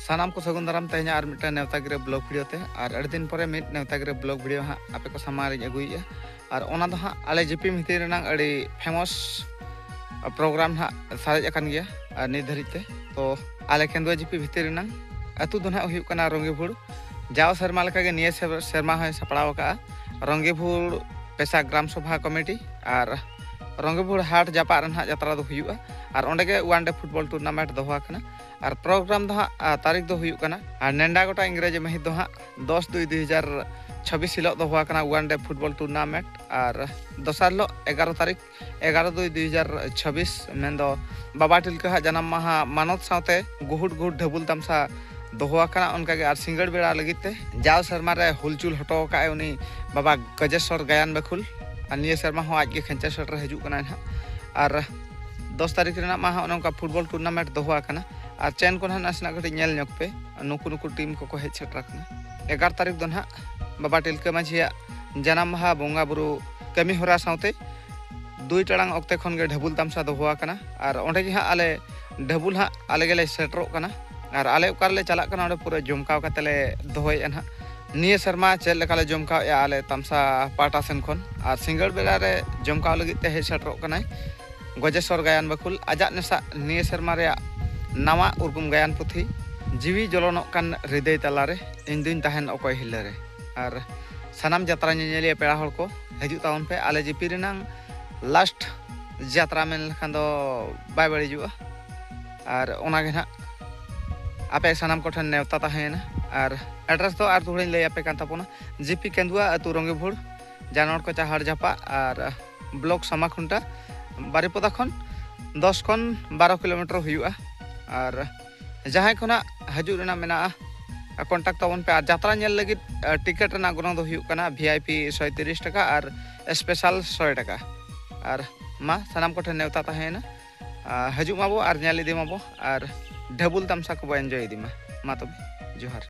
ᱥᱟᱱᱟᱢ ᱠᱚ ᱥᱟᱹᱜᱩᱱ ᱫᱟᱨᱟᱢ ᱛᱮᱦᱮᱧ ᱟᱨ ᱢᱤᱫᱴᱟᱝ ᱱᱮᱣᱛᱟ ᱜᱤᱨᱟᱹ ᱵᱞᱚᱜ ᱵᱷᱤᱰᱤᱭᱳ ᱛᱮ ᱟᱨ ᱟᱹᱰᱤ ᱫᱤᱱ ᱯᱚᱨᱮ ᱢᱤᱫ ᱱᱮᱣᱛᱟ ᱜᱤᱨᱟᱹ ᱵᱞᱚᱜ ᱵᱷᱤᱰᱤᱭᱳ ᱦᱟᱸᱜ ᱟᱯᱮ ᱠᱚ ᱥᱟᱢᱟᱝ ᱨᱤᱧ ᱟᱹᱜᱩᱭᱮᱫᱼᱟ ᱟᱨ ᱚᱱᱟ ᱫᱚ ᱦᱟᱸᱜ ᱟᱞᱮ ᱡᱤᱯᱤ ᱢᱤᱛᱤ ᱨᱮᱱᱟᱝ ᱟᱹᱰᱤ ᱯᱷᱮᱢᱚᱥ ᱯᱨᱳᱜᱨᱟᱢ ᱦᱟᱸᱜ ᱥᱟᱨᱮᱡ ᱟᱠᱟᱱ ᱜᱮᱭᱟ ᱟᱨ ᱱᱤᱛ ᱫᱷᱟᱹᱨᱤᱡ ᱛᱮ ᱛᱚ ᱟᱞᱮ ᱠᱮᱱᱫᱩᱣᱟ ᱡᱤᱯᱤ ᱵᱷᱤᱛᱤᱨ ᱨᱮᱱᱟᱝ ᱟᱹᱛᱩ ᱫᱚ ᱦᱟᱸᱜ ᱦᱩᱭᱩᱜ ᱠᱟᱱᱟ ᱨᱚᱝᱜᱤᱵᱷᱩᱲ ᱡᱟᱣ ᱥᱮᱨᱢᱟ ᱞᱮᱠᱟᱜᱮ ᱱᱤᱭᱟᱹ ᱥᱮᱨᱢᱟ ᱦᱚᱸᱭ ᱥᱟᱯᱲᱟᱣ ᱟᱠᱟᱫᱼᱟ ᱨᱚᱝᱜᱤᱵᱷᱩᱲ ᱯᱮᱥᱟ ᱜᱨᱟᱢ ᱥᱚᱵᱷᱟ ᱠᱚᱢᱤᱴᱤ ᱟᱨ ᱨᱚᱝᱜᱤᱵᱷᱩᱲ ᱦᱟᱴ ᱡᱟᱯᱟᱜ ᱨᱮ ᱦᱟᱸᱜ ᱡᱟᱛᱨᱟ ᱫᱚ ᱦᱩᱭᱩᱜᱼᱟ ᱟᱨ ᱚᱸᱰᱮ ᱜᱮ ᱳᱣᱟᱱ ᱰᱮ ᱯᱷᱩᱴᱵᱚᱞ ᱴᱩᱨᱱᱟᱢᱮᱱᱴ ᱫᱚᱦᱚ ᱟᱠᱟᱱᱟ ᱟᱨ ᱯᱨᱳᱜᱨᱟᱢ ᱫᱚ ᱦᱟᱸᱜ ᱛᱟᱹᱨᱤᱠᱷ ᱫᱚ ᱦᱩᱭᱩᱜ ᱠᱟᱱᱟ ᱟᱨ ᱱᱮᱰᱟ ᱜᱚᱴᱟ ᱤᱝᱨᱮᱡᱤ ᱢᱟᱹᱦᱤᱛ ᱫᱚ ᱦᱟᱸᱜ ᱫᱚᱥ ᱫᱩᱭ ᱫᱩᱭ ᱦᱟᱡᱟᱨ ᱪᱷᱟᱵᱤᱥ ᱦᱤᱞᱳᱜ ᱫᱚ ᱦᱩᱭ ᱠᱟᱱᱟ ᱳᱣᱟᱱ ᱰᱮ ᱯᱷᱩᱴᱵᱚᱞ ᱴᱩᱨᱱᱟᱢᱮᱱᱴ ᱟᱨ ᱫᱚᱥᱟᱨ ᱦᱤᱞᱳᱜ ᱮᱜᱟᱨᱚ ᱛᱟᱹᱨᱤᱠᱷ ᱮᱜᱟᱨᱚ ᱫᱩᱭ ᱫᱩᱭ ᱦᱟᱡᱟᱨ ᱪᱷᱟᱵᱤᱥ ᱢᱮᱱᱫᱚ ᱵᱟᱵᱟ ᱴᱤᱞᱠᱟᱹ ᱦᱟᱜ ᱡᱟᱱᱟᱢ ᱢᱟᱦᱟ ᱢᱟᱱᱚᱛ ᱥᱟᱶᱛᱮ ᱜᱩᱦᱩᱴ ᱜᱩᱦᱩᱴ ᱰᱷᱟᱹᱵᱩᱞ ᱛᱟᱢᱥᱟ ᱫᱚᱦᱚ ᱟᱠᱟᱱᱟ ᱚᱱᱠᱟᱜᱮ ᱟᱨ ᱥᱤᱸᱜᱟᱹᱲ ᱵᱮᱲᱟ ᱞᱟᱹᱜᱤᱫ ᱛᱮ ᱡᱟᱣ ᱥᱮᱨᱢᱟ ᱨᱮ ᱦᱩᱞᱪᱩᱞ ᱦᱚᱴᱚ ᱟᱠᱟᱫ ᱩᱱᱤ ᱵᱟᱵᱟ ᱜᱚᱡᱮᱥᱚᱨ ᱜᱟᱭᱟᱱ ᱵᱟᱹᱠᱷᱩᱞ ᱟᱨ ᱱᱤᱭᱟᱹ ᱥᱮᱨᱢᱟ ᱦᱚᱸ ᱟᱡᱜᱮ ᱠᱷᱮᱧᱪᱟ ᱥᱮᱴᱮᱨ ᱦᱤᱡᱩᱜ ᱠᱟᱱᱟᱭ ᱦᱟᱸᱜ ᱟᱨ ᱫᱚᱥ ᱛᱟᱹᱨᱤᱠᱷ ᱨᱮᱱᱟᱜ ᱢᱟ ᱦᱟᱸᱜ ᱱᱚᱝᱠᱟ ᱯᱷᱩᱴᱵᱚᱞ ᱴᱩᱨᱱᱟᱢᱮᱱᱴ ᱫᱚᱦᱚ ᱟᱠᱟᱱᱟ ᱟᱨ ᱪᱮᱱ ᱠᱚ ᱱᱟᱦᱟᱜ ᱱᱟᱥᱮᱱᱟᱜ ᱠᱟᱹᱴᱤᱡ ᱧᱮᱞ ᱧᱚᱜ ᱯᱮ ᱱᱩᱠᱩ ᱱᱩᱠᱩ ᱴᱤᱢ ᱠᱚᱠᱚ ᱦᱮᱡ ᱥᱮᱴᱮᱨ ᱟᱠᱟᱱᱟ ᱮᱜᱟᱨ ᱛᱟᱹᱨᱤᱠᱷ ᱫᱚ ᱱᱟᱦᱟᱜ ᱵᱟᱵᱟ ᱴᱤᱞᱠᱟᱹ ᱢᱟᱹᱡᱷᱤᱭᱟᱜ ᱡᱟᱱᱟᱢ ᱢᱟᱦᱟ ᱵᱚᱸᱜᱟ ᱵᱩᱨᱩ ᱠᱟᱹᱢᱤ ᱦᱚᱨᱟ ᱥᱟᱶᱛᱮ ᱫᱩᱭ ᱴᱟᱲᱟᱝ ᱚᱠᱛᱮ ᱠᱷᱚᱱ ᱜᱮ ᱰᱷᱟᱹᱵᱩᱞ ᱛᱟᱢᱥᱟ ᱫᱚᱦᱚ ᱟᱠᱟᱱᱟ ᱟᱨ ᱚᱸᱰᱮ ᱜᱮ ᱦᱟᱸᱜ ᱟᱞᱮ ᱰᱷᱟᱹᱵᱩᱞ ᱦᱟᱸᱜ ᱟᱞᱮ ᱜᱮᱞᱮ ᱥᱮᱴᱮᱨᱚᱜ ᱠᱟᱱᱟ ᱟᱨ ᱟᱞᱮ ᱚᱠᱟ ᱨᱮᱞᱮ ᱪᱟᱞᱟᱜ ᱠᱟᱱᱟ ᱚᱸᱰᱮ ᱯᱩᱨᱟᱹ ᱡᱚᱢᱠᱟᱣ ᱠᱟᱛᱮ ᱞᱮ ᱫᱚᱦᱚᱭᱮᱫᱼᱟ ᱱᱟᱦᱟᱜ ᱱᱤᱭᱟᱹ ᱥᱮᱨᱢᱟ ᱪᱮᱫ ᱞᱮᱠᱟ ᱞᱮ ᱡᱚᱢ ᱠᱟᱣᱮᱜᱼᱟ ᱟᱞᱮ ᱛᱟᱢᱥᱟ ᱯᱟᱦᱴᱟ ᱥᱮᱱ ᱠᱷᱚᱱ ᱟᱨ ᱥᱤᱸᱜᱟᱹᱲ ᱵᱮᱲᱟ ᱨᱮ ᱡᱚᱢ ᱠᱟᱣ ᱞᱟᱹᱜᱤᱫ ᱛᱮ ᱦᱮᱡ ᱥᱮᱴᱮᱨᱚᱜ ᱠᱟᱱᱟᱭ ᱜᱚᱡᱮᱥᱚᱨ ᱜᱟᱭᱟᱱ ᱵᱟᱹᱠᱷᱩᱞ ᱟᱡᱟᱜ ᱱᱮᱥᱟᱜ ᱱᱤᱭᱟᱹ ᱥᱮᱨᱢᱟ ᱨᱮᱭᱟᱜ ᱱᱟᱣᱟ ᱩᱨᱜᱩᱢ ᱜᱟᱭᱟᱱ ᱯᱩᱛᱷᱤ ᱡᱤᱣᱤ ᱡᱚᱞᱚᱱᱚᱜ ᱠᱟᱱ ᱦᱨᱤᱫᱟᱹᱭ ᱛᱟᱞᱟ ᱨᱮ ᱤᱧ ᱫᱩᱧ ᱛᱟᱦᱮᱱ ᱚᱠᱚᱭ ᱦᱤᱞᱟᱹ ᱨᱮ ᱟᱨ ᱥᱟᱱᱟᱢ ᱡᱟᱛᱨᱟ ᱧᱮᱧᱮᱞᱤᱭᱟᱹ ᱯᱮᱲᱟ ᱦᱚᱲ ᱠᱚ ᱦᱤᱡᱩᱜ ᱛᱟᱵᱚᱱ ᱯᱮ ᱟᱞᱮ ᱡᱤᱯᱤ ᱨᱮᱱᱟᱝ ᱞᱟᱥᱴ ᱡᱟᱛᱨᱟ ᱢᱮᱱ ᱞᱮᱠᱷᱟᱱ ᱫᱚ ᱵᱟᱭ ᱵᱟᱹᱲᱤᱡᱚᱜᱼᱟ ᱟᱨ ᱚᱱᱟᱜᱮ ᱱᱟᱜ ᱟᱯᱮ ᱥᱟᱱᱟᱢ ᱠᱚᱴᱷᱮᱱ ᱱᱮᱣᱛᱟ ᱛᱟᱦᱮᱸᱭᱮᱱᱟ ᱟᱨ ᱮᱰᱨᱮᱥ ᱫᱚ ᱟᱨ ᱫᱚᱦᱲᱟᱹᱧ ᱞᱟᱹᱭ ᱟᱯᱮ ᱠᱟᱱ ᱛᱟᱵᱚᱱᱟ ᱡᱤᱯᱤ ᱠᱮᱸᱫᱩᱣᱟ ᱟᱹᱛᱩ ᱨᱚᱝᱜᱮᱵᱷᱩᱲ ᱡᱟᱱᱚᱲ ᱠᱚᱪᱟ ᱦᱟᱲ ᱡᱷᱟᱯᱟ ᱟᱨ ᱵᱞᱚᱠ ᱥᱟᱢᱟᱠᱷᱩᱱᱴᱟ ᱵᱟᱨᱤᱯᱚᱫᱟ ᱠᱷᱚᱱ ᱫᱚᱥ ᱠᱷᱚᱱ ᱵᱟᱨᱚ ᱠᱤᱞᱳᱢᱤᱴᱟᱨ ᱦᱩᱭᱩᱜᱼᱟ ᱟᱨ ᱡᱟᱦᱟᱸᱭ ᱠᱷᱚᱱᱟᱜ ᱦᱤᱡᱩᱜ ᱨᱮᱱᱟᱜ ᱢᱮᱱᱟᱜᱼᱟ ᱠᱚᱱᱴᱟᱠᱴ ᱛᱟᱵᱚᱱ ᱯᱮ ᱟᱨ ᱡᱟᱛᱨᱟ ᱧᱮᱞ ᱞᱟᱹᱜᱤᱫ ᱴᱤᱠᱮᱴ ᱨᱮᱱᱟᱜ ᱜᱚᱱᱚᱝ ᱫᱚ ᱦᱩᱭᱩᱜ ᱠᱟᱱᱟ ᱵᱷᱤ ᱟᱭ ᱯᱤ ᱥᱚᱭ ᱛᱤᱨᱤᱥ ᱴᱟᱠᱟ ᱟᱨ ᱥᱯᱮᱥᱟᱞ ᱥᱚᱭ ᱴᱟᱠᱟ ᱟᱨ ᱢᱟ ᱥᱟᱱᱟᱢ ᱠᱚᱴᱷᱮᱱ ᱱᱮᱣᱛᱟ ᱛᱟᱦᱮᱸᱭᱮᱱᱟ ᱦᱤᱡᱩᱜ ᱢᱟᱵᱚ ᱟᱨ ᱧᱮᱞ ᱤᱫᱤ ᱢᱟᱵᱚ ᱟᱨ ᱰᱷᱟᱹᱵᱩᱞ ᱛᱟᱢᱥᱟ ᱠᱚᱵᱚ ᱮᱱᱡᱚᱭ ᱤᱫᱤ ᱢᱟ ᱢᱟ ᱛᱚᱵᱮ ᱡᱚᱦᱟᱨ